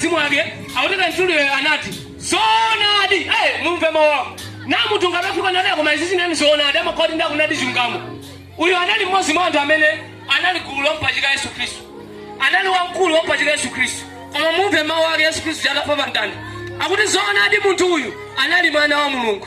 mzimu wake akupereka mzimuwo anati zoonadi eh, mumve mawu awo namutunga anafika nanena koma izizi inde zoonadi amakoti ndakunadi chilungamo uyu anali mmodzi mwa anthu amene anali gulu lompachika yesu khristu anali wamkulu wompachika yesu khristu koma mumve mawu ake yesu khristu atafa pamtanda akuti zoonadi munthu uyu anali mwana wa mulungu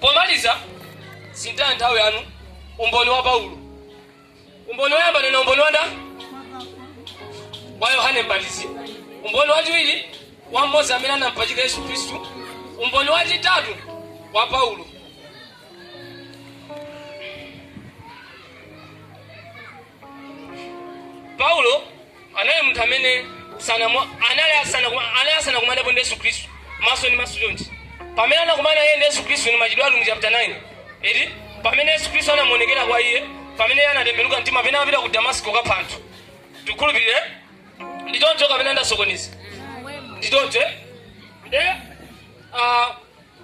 Pomaliza, sintani nthawi yanu. Umboni wa Paulo, umboni woyamba ndanena umboni wa Yohane Mbatizi, umboni wachiwiri wa mmodzi amene anampachika Yesu Khristu, umboni wachitatu wa Paulo. paulo anali munthu amene sanamo- anali asana kuma- anali asana kumanapo ndi yesu khristu maso ndi maso chonchi pamene anakumana iye ndi yesu khristu ni machitidwe ali mu chapter 9 eti pamene yesu khristu anamuonekera kwa iye pamene iye anatembenuka mtima pamene anapita ku damasiko kapha anthu tikhulupirire ndi choncho kapena ndasokoneza ndi choncho eh? nde ah,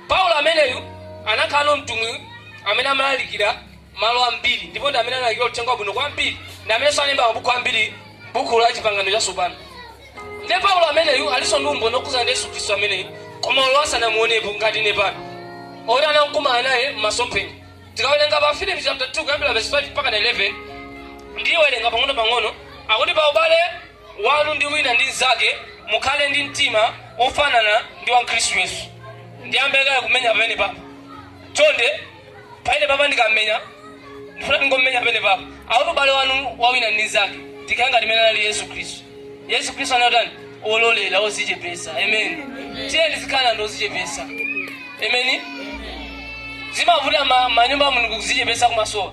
Paulo ameneyu anakhalanso mtumwi amene amalalikira malo ambiri ndipo ndi amene analalikira uthenga wabwino kwambiri ndi amenenso analemba mabuku ambiri buku la chipangano chatsopano ndiye paulo ameneyu alinso ndi umboni okhudzana ndi yesu khristu ameneyu koma olo asanamuonepo ngati ine pano oti anakumana naye m'masomphenya tikawerenga pa filipi chapter 2 kuyambira verse 5 mpaka 11 ndiwerenga pang'ono pang'ono akuti pa ubale wanu ndi wina ndi mzake mukhale ndi mtima wofanana ndi wa Khristu Yesu. Ndiyambe kaye kumenya pamene papa. Chonde pamene papa ndikamenya ndifuna ndingomenya pamene papa. Akuti ubale wanu wa wina ndi mzake tikhale ngati mmene anali Yesu Khristu. Yesu Khristu anatani ololera ozichepesa. Amen. Tiyeni tizikhala ndi ozichepesa. Amen. Zimavuta ma- manyumba a Mulungu kuzichepesa kumasowa.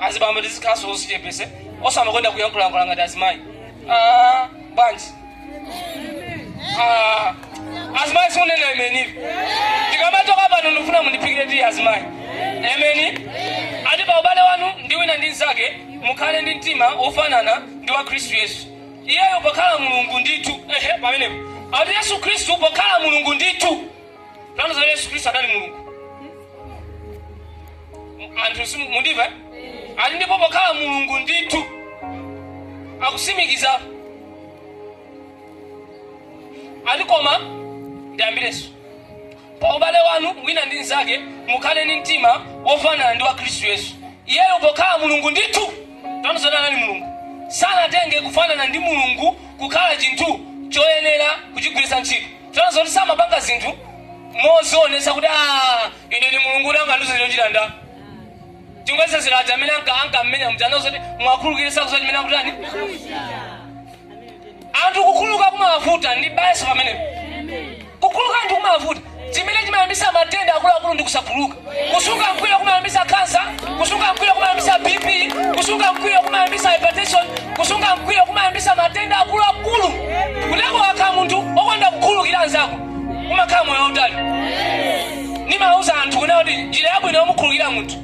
azibambo tizikhalanso ozichepesa osamakonda kuyankhulayankhula ngati azimayi Ah, bwanji Ah, azimayi sindikunena inuyo ndikamachoka pano ndikufuna mundiphikire tiyi azimayi ameni ati pa ubale wanu ndi wina ndi mnzake mukhale ndi mtima wofanana ndi wa khristu yesu iyeyo pokhala Mulungu ndithu. Ehe, pamenepo ati Yesu Khristu pokhala Mulungu ndithu. Tanthauza Yesu Khristu adali Mulungu. M- Anthu simundimva? Ati ndipo pokhala Mulungu ndithu. Akusimikiza. Ati koma ndiyambireso. Pa ubale wanu wina ndi mnzake, mukhale ndi mtima wofanana ndi wa Khristu Yesu. Iyeyo pokhala Mulungu ndithu, taona zoti anali Mulungu, sanatenge kufanana ndi Mulungu kukhala chinthu choyenera kuchigwiritsa ntchito. Taona zoti samapanga zinthu modzionetsa kuti, Aaa, ine ndi Mulungu kuti angandiuze chochita nda. Tingwetsezera aja amene anka- ankam'menya muja, ananena zoti mwakhululukire sakudziwa chimene akutani. anthu kukhuluka kumawavuta ndibwerezenso pamenepo kukhuluka anthu kumawavuta chimene chimayambisa matenda akuluakulu ndi kusakhuluka kusunga mkwiyo kumayambisa kansa kusunga mkwiyo kumayambisa bp kusunga mkwiyo kumayambisa hypertension kusunga mkwiyo kumayambisa matenda akuluakulu kuti ukakhala munthu okonda kukhulukira anzako umakhala moyo wautali nimauza anthu kunena kuti njira yabwino yomukhulukira munthu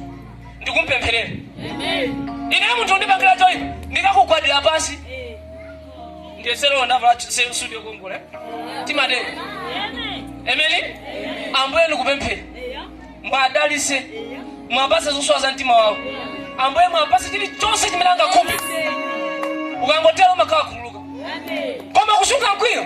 ndikumpempherera ine munthu ukandipangira choipa ndikakugwadira pansi ndiyenso lero ndavala ch- suti yokongola eh? timatero emeni ambuye ndikupemphera mwadalise mwapase zosowa za mtima wawo ambuye mwapase chilichonse chimene angakhumbe ukangotero umakhala wakhululuka koma kusunga mkwiyo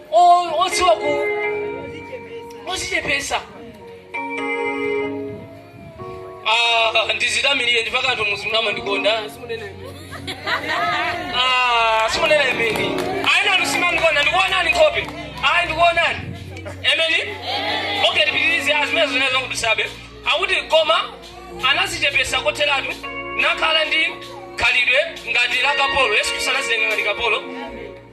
odziwa ku ozichepesa ah, ndizitamilire ndipake anthu muzimu amandikonda ah, simunena emeni ayi nanu simumandikonda ndikuonani nkhope ayi ndikuonani emeni okay tipitirize a zimenezo ndi zongodusabe akuti koma anazichepesa kotheratu nakhala ndi khalidwe ngati la kapolo yesu kristu anazitenga ngati kapolo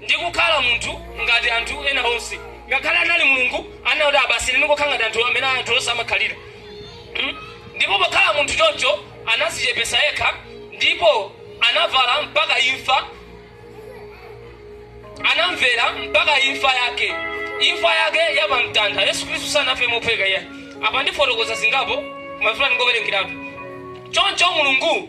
ndi kukhala munthu ngati anthu ena onse. Ngakhale anali Mulungu, anena kuti a basi ine ndingokhala ngati anthu mmene anthu onse amakhalira. Mm? Ndipo pokhala munthu choncho anazichepesa yekha ndipo anavala mpaka imfa anamvera mpaka imfa yake imfa yake yapamtanda yesu khristu sanafe mophweka iyayi apa ndifotokoza zingapo ndimafuna ningowerengeratu choncho mulungu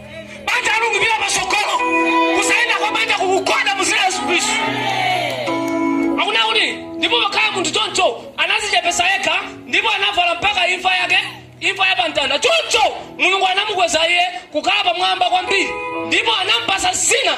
banja likupita pasogolo kusaenda kwa banja kukugwada muzina yesu kristu akunena kuti ndipo pokhala munthu choncho anazichepesa yekha ndipo anavala mpaka imfa yake imfa ya pamtanda choncho mulungu anamukweza iye kukhala pamwamba kwambiri ndipo anampasa zina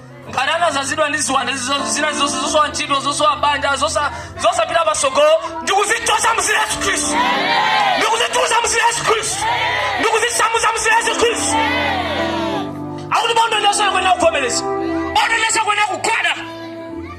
ngati anazazidwa ndi ziwanda zina zonse zosowa ntchito zosowa banja zosapita pasogolo ndikuzichosa muzina yesu khristu ndikuzitulusa muzina yesu khristu ndikuzisamusa muzina yesu khristu akuti bondo lililonse likuenera kuvomereza bondo lililonse likuenera kugwada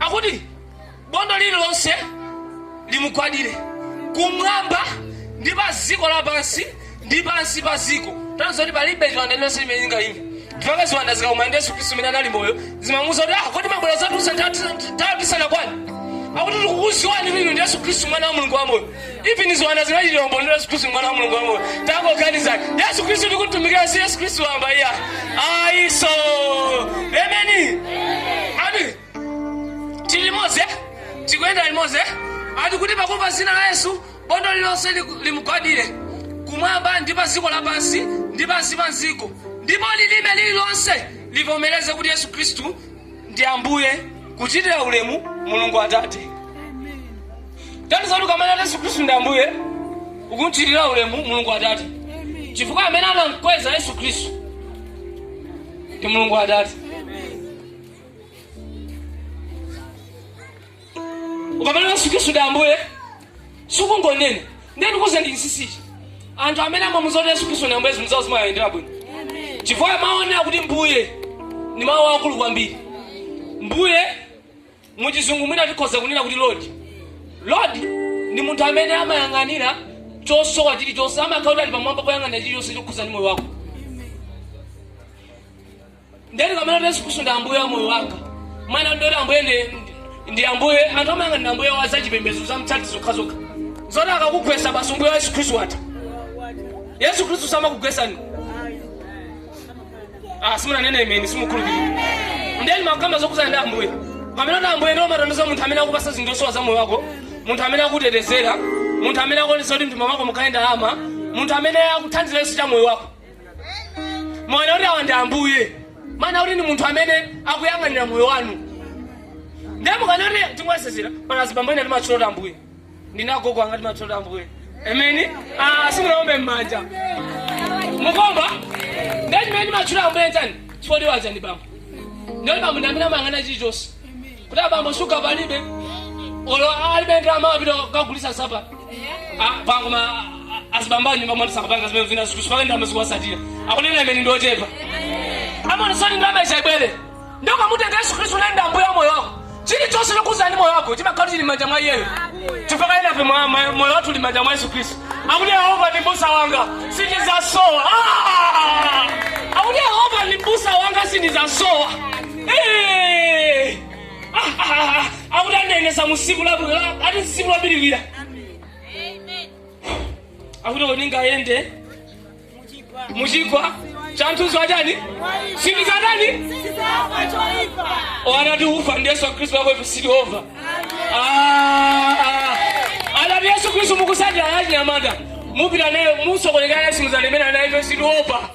akuti bondo lililonse limugwadire kumwamba ndi pa dziko lapansi ndi pansi pa dziko tanthauza kuti palibe chiwanda chilichonse chimene chingaime mpaka ziwanda zikakumana ndi yesu khristu mmene anali moyo zimamuuza kuti ah kodi mwabwera zathu nthawi isanakwane akuti tikukuziwani inu ndi yesu khristu mwana wa mulungu wamoyo even ziwanda zimachitira umboni yesu khristu mwana wa mulungu wamoyo tangoganizani yesu khristu tikumtumikira si yesu khristu wamba iyayi so emeni ati tili limodzi eh? tikuyenda limodzi eh? ati kuti pakumva zina la yesu bondo lilonse liku- limugwadire kumwamba ndi pa dziko lapansi ndi pansi pa dziko ndipo lilime lililonse livomereze kuti yesu khristu ndi ambuye kuchitira ulemu mulungu atate tanthauza kuti ukamanena yesu khristu ndi ambuye ukumchitira ulemu mulungu atate chifukwa amene anamkweza yesu khristu ndi mulungu atate ukamanena yesu khristu ndi ambuye sukungonena ndiye ndikuuzeni chinsinsichi anthu amene amamuuza kuti yesu khristu ni ambuye zinthu zawo zimayendera bwino chifukwa mawu onena kuti mbuye ni mawu akulu kwambiri mbuye muchizungu mwina tikhoza kunena kuti lord lord ni munthu amene amayang'anira chosowa chilichonse amakhala kuti ali pamwamba poyang'anira chilichonse chokhuza ndi moyo wako nde ndikamanena kuti yesu khristu ndi ambuye wa moyo wanga mawu onena kuti ambuye ndi- ndi ambuye anthu amayesa ndi ambuye wa zachipembedzo za mtchati zokhazokha zoti akakugwesa basi umbuye wa yesu khristu watha yesu khristu samakugwesani ah simunanene ameni simukhulupirira nde ndimakamba zokhuzana ndi ambuye ponena kuti ambuye ndiye umatanthauza munthu amene akupasa zinthu zosowa za moyo wako munthu amene akutetezera munthu amene akuonesa kuti m'thumba mwako mukhale ndalama munthu amene akuthandiza chilichonse cha moyo wako mukanena kuti awa ndi ambuye mumanena kuti ndi munthu amene akuyang'anira moyo wanu ndiye mukaona kuti timwasizira pana azibambo ena timatchula kuti ambuye ndi agogo anga timatchula kuti ambuye ameni Ah, simunaombe m'manja mukuomba ndiye chimene timatchula ambuye chani chifukwa tiwatcha ndi bambo ndiye kuti bambo ndi amene amayang'ana chilichonse kuti abambo shuga palibe olo alibe ndalama apita kukagulisa sapa pano koma azibambo a m'nyumba mwathu sakapanga zimene zina zikuchipaka ndalama zikuwasatira akunena ameni ndi ochepa amaonesesa kuti ndalama ichani ibwere nde ukamutenga yesu khristu kunena ndi ambuye wa moyo wako chilichonse chokhudza ndi moyo wako chimakhala chili m'manja mwa iyeyo chifukwa enafe moyo wathu uli m'manja mwa yesu khristu akuti yehova ndi mbusa wanga sindizasowa Ah! akuti yehova ndi mbusa wanga sindizasowa Eh! Ah, ah, ah, ah. akuti andiyendesa mu msipu la- la- ati msipu wobiriwira akuti poti ningayende muchigwa chanthunzi wachani sindizatani wanatu ufa ndi yesu khristu wako ife sili ova Ah, ah. anati yesu khristu mukusatira achinyamata mupita naye musokonekera yesu muzanimena naye ife sili ova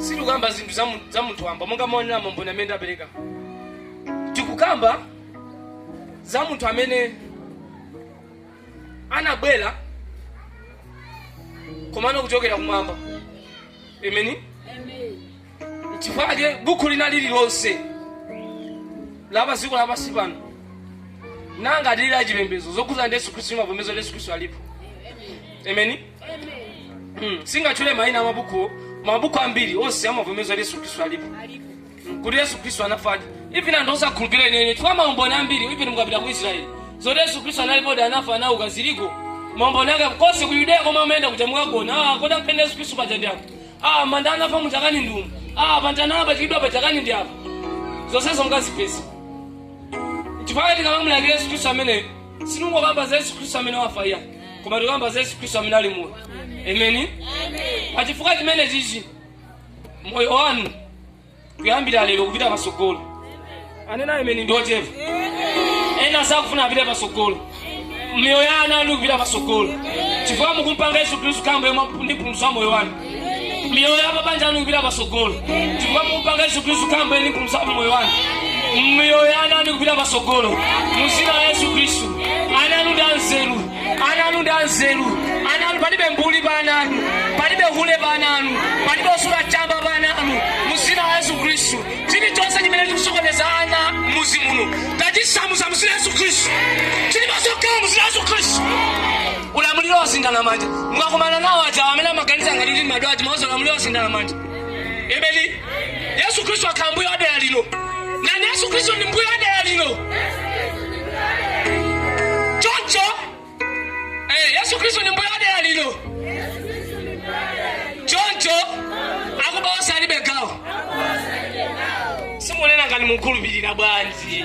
sitikukamba zinthu za mu- za munthu wamba monga maonera maumboni amene ndapereka tikukamba za munthu amene anabwera komano kuchokera kumwamba ameni chifukwa chake buku lina lililonse lapa dziko lapansi pano ngati lili la chipembedzo zokhudzana ndi yesu khristu limavomeza yesu khristu alipo ameni Ameni, singatchule maina a mabuku mabuku ambiri onse amavomereza kuti yesu khristu alipo Mm, kuti yesu khristu anafadi even anthu osakhulupirira ineyo chifukwa maumboni ambiri even mukapita ku israeli zoti yesu khristu analipodi anafa anauka ziliko maumboni ake konse ku yudeya komwe amayenda kuja mukakuona ah, kodi akumenda yesu khristu paja ndi apo ah, manda anafa muchakani ndi umu ah, pantana apachikidwa pachakani ndi apo zonsezo mukazipeza chifukwa tikamamulandira yesu khristu amene sinungokamba za yesu khristu amene wafa iya koma tikamba za yesu khristu amene ali moyo ameni pachifukwa chimene chichi moyo wanu kuyambira lero kupita pasogolo anena ameni ndiochepa ena sakufuna apite pasogolo miyoyo yanu ikupita pasogolo chifukwa mukumpanga yesu khristu kukhala mbuye ndi mpulumutsi wa moyo wanu miyoyo ya mabanja anu ikupita patsogolo chifukwa mukumpanga yesu khristu kukhala mbuye ndi mpulumusi wa moyo wanu miyoyo ya ana anu ikupita patsogolo mu dzina la yesu khristu ana anu ndi anzeru ana anu ndi anzeru ana anu palibe mbuli pa ana anu palibe hule pa ana anu palibe osula chamba pa ana anu mu dzina la yesu khristu chilichonse chimene chikusokoneza ana muzi muno tachisamusa mu dzina la yesu khristu chili ndi masoka mu dzina la yesu khristu ulamuliro wasinthana manja mukakumana nawo ajawo amene amaganiza ngati ndi madwa aja muwauze ulamuliro wasinthana manja ameni yesu khristu akhala mbuye wa dera lino nati yesu khristu ndi mbuye wa dera lino choncho eh, yesu khristu ndi mbuye wa dera lino choncho akuba onse alibe gawo simunena ngati mukhulupirira bwanji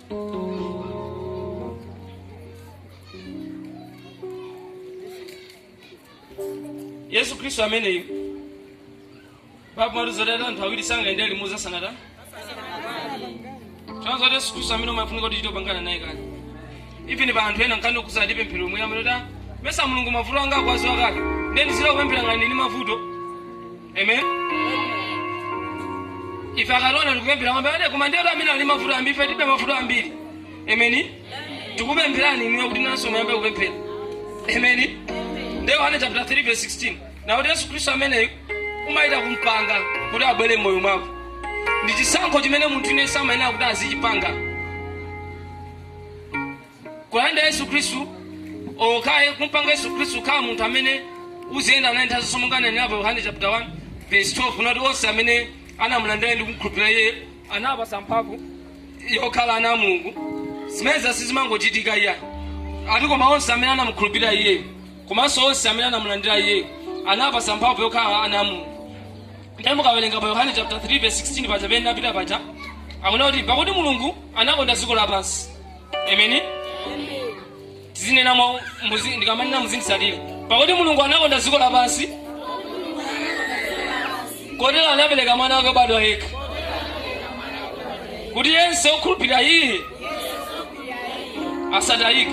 yesu khristu ameneyu baibo imatiuza ati anthu awiri sangayendere limodzi asanatani chonzo kuti yesu khristu amene umafunika kuti uchite kupangana naye kale even pa anthu ena nkhani yokusa ati pemphero mwina amene kuti mesa mulungu mavuto anga akuwaziwa kale nde nizira kupemphera ngati ni mavuto Amen. Ife akalona tikupemphera kwamba ade koma ndiye amene ali mavuto ambiri ife tilibe mavuto ambiri. Amen. Tikupemphani inuyo kuti nanunso muyambe kupemphera. Amen. Ndi Yohane chapter 3 verse 16. Na kuti Yesu Khristu ameneyu umayenera kumpanga kuti abwere mmoyo mwako. Ndi chisankho chimene munthu iwe umayenera kuti azichipanga. kulandira yesu khristu okay kumpanga yesu khristu kukhala munthu amene uziyenda naye nthawi zonse monga nanena pa yohane chapter 1 verse 12 anati onse amene anamulandira ndi kumkhulupirira iye anapatsa mphamvu yokhala ana a mulungu zimenezi sizimangochitika iye ati koma onse amene anamukhulupirira iyeyo komanso onse amene anamulandira iyeyo anapatsa mphamvu yokhala ana a mulungu ndiye mukawerenga pa yohane chapter 3 verse 16 paja pamene napitira paja akunena kuti pakuti mulungu anakonda dziko lapansi Amen. Tizinena mwa umodzi ndikamanena muzinditsatira. Pakuti Mulungu anakonda dziko lapansi. Kotero anapereka mwana wake obadwa yekha. Kuti yense okhulupirira iye asatayike.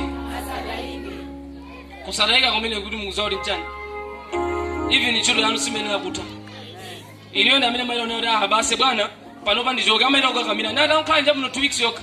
Kusatayika kumene kuti mukudziwa kuti mchani. Even ntchito yanu siyimayenera kutha. Inuyo ndi amene mwayiona kuti aha basi bwana panopa ndichoke amayenera kukakamira. Nada mkhanja muno two weeks yokha.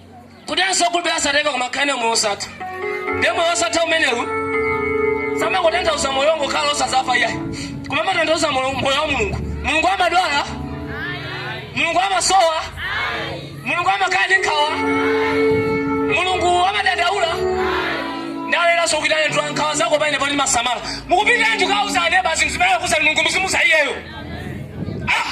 kuti yense okhulupirira asatayike koma akhale ndi moyo osatha ndiye moyo osatha umenewu samangotanthauza moyo wongokhala osazafa iyayi koma amatanthauza moyo moyo wa mulungu mulungu amadwala mulungu amasowa mulungu amakhala ndi nkhawa mulungu amadandaula nde akuti senzetsani nkhawa zanu paine poti ndimasamala mukupita inu kukauza aneba zinthu zimene mukuuza mulungu muzimuuza iyeyo ah!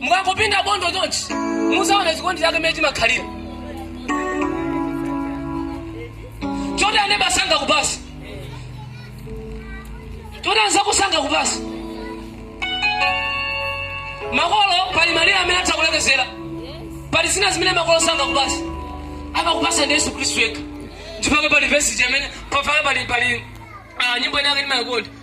mukangopinda bondo chonchi muzaona chikondi chake mmene chimakhalira choti aneba sangakupatse choti anzako sangakupatse makolo pali malire amene atha kulekezera pali zina zimene makolo sangakupatse amakupatsa ndi yesu khristu yekha ndipo pali vesi imene pali pali ah, nyimbo inake ndimayikonda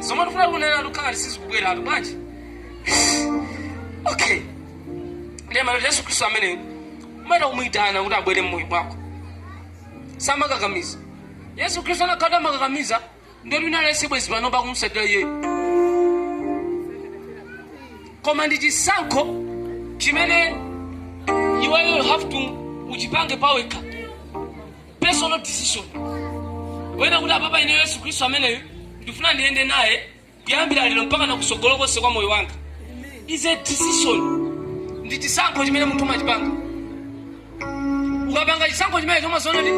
zomwe ndifuna kunena ndikaona sizikubweratu bwanji okay ndiye amati yesu khristu ameneyo umayenera umuyitane kuti abwere mmoyo mwako samakakamiza yesu khristu anakhala amakakamiza ndiye ili lonse bwezi pano likumtsatira iyeyo koma ndi chisankho chimene iweyo you have to uchipange pawekha personal decision wena kuti apapa ine yesu khristu ameneyu ndifuna ndiyende naye kuyambira lero mpaka nakusogolo konse kwa moyo wanga is a decision ndi chisankho chimene munthu umachipanga ukapanga chisankho chimenecho umaziona kuti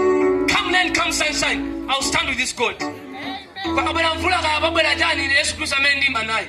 come rain come sunshine ill stand with this god kaya pabwera mvula kaya pabwera chani ine yesu khristu ameneyu ndiima naye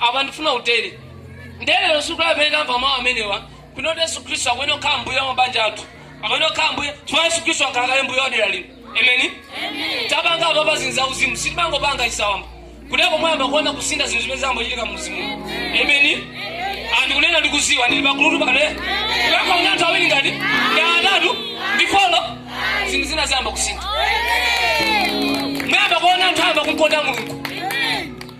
apa ndifuna utere ndiye lero ndi tsiku limene tamva mawu amenewa kuno kuti yesu khristu akuyenera kukhala mbuye wa mabanja athu akuyenera kukhala mbuye chifukwa yesu khristu wakhala kale mbuye wadera lino ameni tapanga apa pazinthu zauzimu sitimangopanga chisawamba kudeko mwayamba kuona kusintha zinthu zimene zayamba kuchitika muuzimu ameni ndikunena ndikuziwa ndili pagulutu pano ngakhale anthu awiri ngati ndi atatu ndi folo zinthu zina zayamba kusintha mwayamba kuona anthu ayamba kumkonda mulungu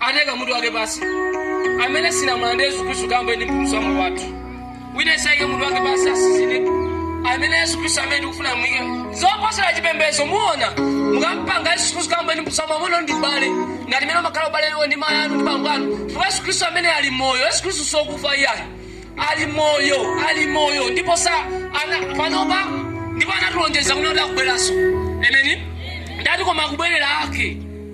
aike mutu wake pasi amene sitinamulandire yesu khristu kukhala mbuye ndi mpulumutsi wa moyo wathu wina aliyense aike mutu wake pasi atsinzine ameni yesu khristu amene tikufuna mwike zoposera chipembedzo muona mukampanga yesu khristu kukhala mbuye ndi mpulumutsi wa moyo ndi ubale ngati mmene mumakhala ubale wanu ndi mayi anu ndi bambo anu chifukwa yesu khristu amene ali moyo yesu khristu sokufa iyayi ali moyo ali moyo ndipo sa ana- panopa ndipo anatilonjeza kuti akubweranso ameni ndati koma kubwerera ake